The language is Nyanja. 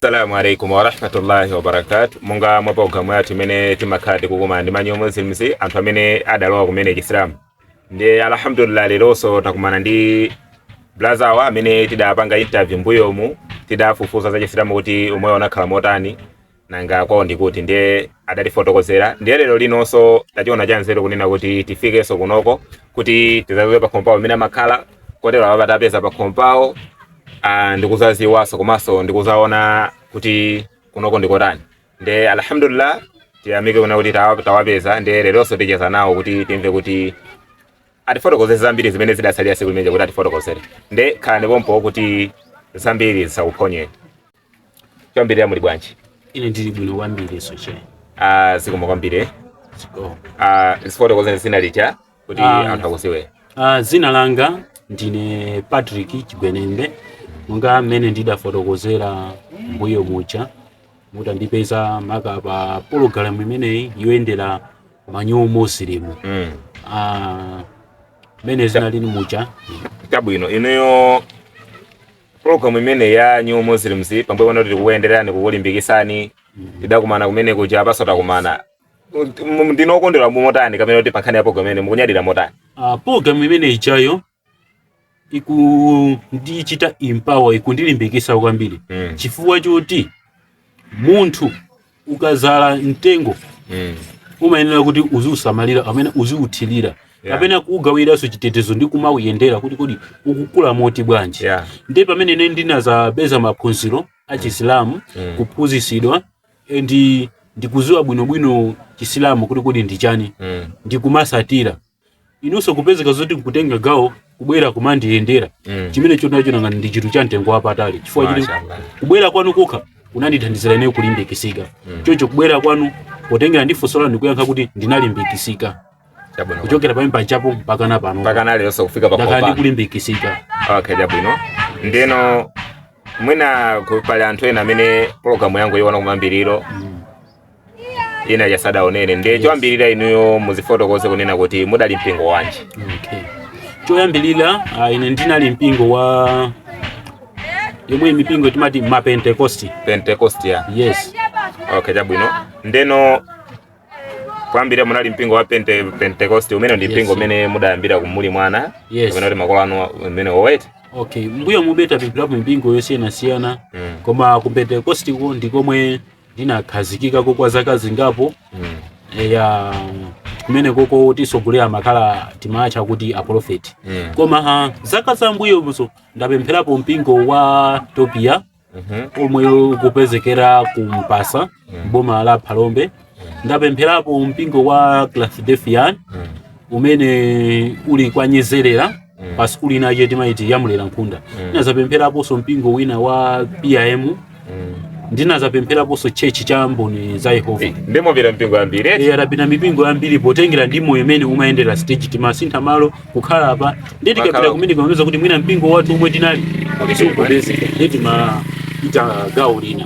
Assalamu alaikum warahmatullahi wabarakatu monga mwa programu yathu imene timakhala tikukumana ndi ma New Muslims anthu amene adalowa kumene chisilamu ndi alhamdulillah leronso takumana ndi blaza awa amene tidapanga interview mbuyomu tidafufuza za chisilamu kuti umoyo unakhala motani nanga kwawo ndi kuti ndiye adatifotokozera ndiye lero linonso tachiona chanzeru kunena kuti tifikenso kunoko kuti tizaziwe pakhomo pawo pamene amakhala kotero apa tapeza pakhomo pawo ah, ndikuzaziwanso komanso ndikuzaona kuti kunoko ndikotani ndiye alhamdulillah tiyamike kuna kuti tawa- tawapeza ndiye leronso ticheza nawo kuti timve kuti atifotokozere zambiri zimene zidasalira siku limene lija kuti atifotokozere nde khalani pompo kuti zambiri zisakuphonyeni choyambirira muli bwanji ine ndili bwino kwambiri nanunso Ah, zikomo kwambiri Ziko. Ah, tifotokozereni zina lija kuti Ah. anthu akuziwe Ah, dzina langa ndine patrick chigwenembe monga mmene ndidafotokozera mbuyo muja mutandipeza maka pa pologalamu imeneyi yoyendera ma New Muslim Mm. Ah, mmene zinalili muja chabwino inuyo Program imeneyi ya New Muslims pamene pano tikukuyenderani kukulimbikitsani tidakumana kumene kuja apanso takumana M- ndinu okondwera motani kapena kuti pankhani ya program imeneyi mukunyadira motani uh, program imene ijayo ikundichita empower ikundilimbikitsa kwambiri mm. chifukwa choti munthu ukazala mtengo mm. umayenera kuti uziusamalira kapena uziuthirira yeah. kapena kuuikiranso chitetezo ndi kumauyendera kuti kodi ukukula moti bwanji yeah. ndi pamene ine ndinazapeza maphunziro achisilamu mm. kuphunzisidwa ndi ndikuziwa bwinobwino chisilamu kuti kodi ndi chani mm. ndikumachisatira inunso kupezeka zoti nkutenga gawo kubwera kumandiyendera Mm. chimene chonchotu nanga ndi chinthu cha mtengo wapatali chifukwa chili Mashallah. kubwera kwanu kokha kunandithandizira ineyo kulimbikisika Mm. choncho kubwera kwanu potengera ndi funso lanu ndikuyankha kuti ndinalimbikisika Chabwino. kuchokera pamene pajapo mpaka na pano Mpaka na lero kufika pa ndakhala kopa. ndikulimbikisika Okay, chabwino. Ndeno mwina ku- pali anthu ena amene pologalamu yangu ya koyambirira ija sadaonere ndiye choyambirira inuyo muzifotokoze kunena kuti mudali mpingo wanji okay. choyambirira ah, ine ndinali mpingo wa yemwe mipingo timati mapentekosti pentecost ya yes okay chabwino ndeno poyambira munali mpingo wa pente, pentecost umene ndi Yes. mpingo umene mudayambira muli mwana Yes. umene kuti makolo anu umene owete okay mbuyo mu ndinapitapo mipingo yosiyanasiyana mm. koma ku pentekosti ko ndi komwe ndinakhazikikako kwa zaka zingapo eya kumeneko kuti tsogolera makhala timatcha kuti aprofeti Mm. koma ah, zaka zam'mbuyomuso ndapempherapo mpingo wa Topia Mhm. omwe ukupezekera ku Mpasa boma la Phalombe ndapempherapo mpingo wa Christadelphian Mm. umene uli kwa Nyezerera mm. pa sukulu ina yake timaiti ya Mulera Nkhunda mm. ndinazapempheraponso mpingo wina wa PIM mm. ndinazapempheraponso chechi cha Mboni za Yehova ndiye mwapita mipingo yambiri e, ndapita mipingo yambiri potengera ndi moyo mmene umayendera stage timasintha malo kukhala apa ndi tikapita kumene kumapeza kuti mwina mpingo wathu omwe tinali sukupeza ndi timaita gawo lina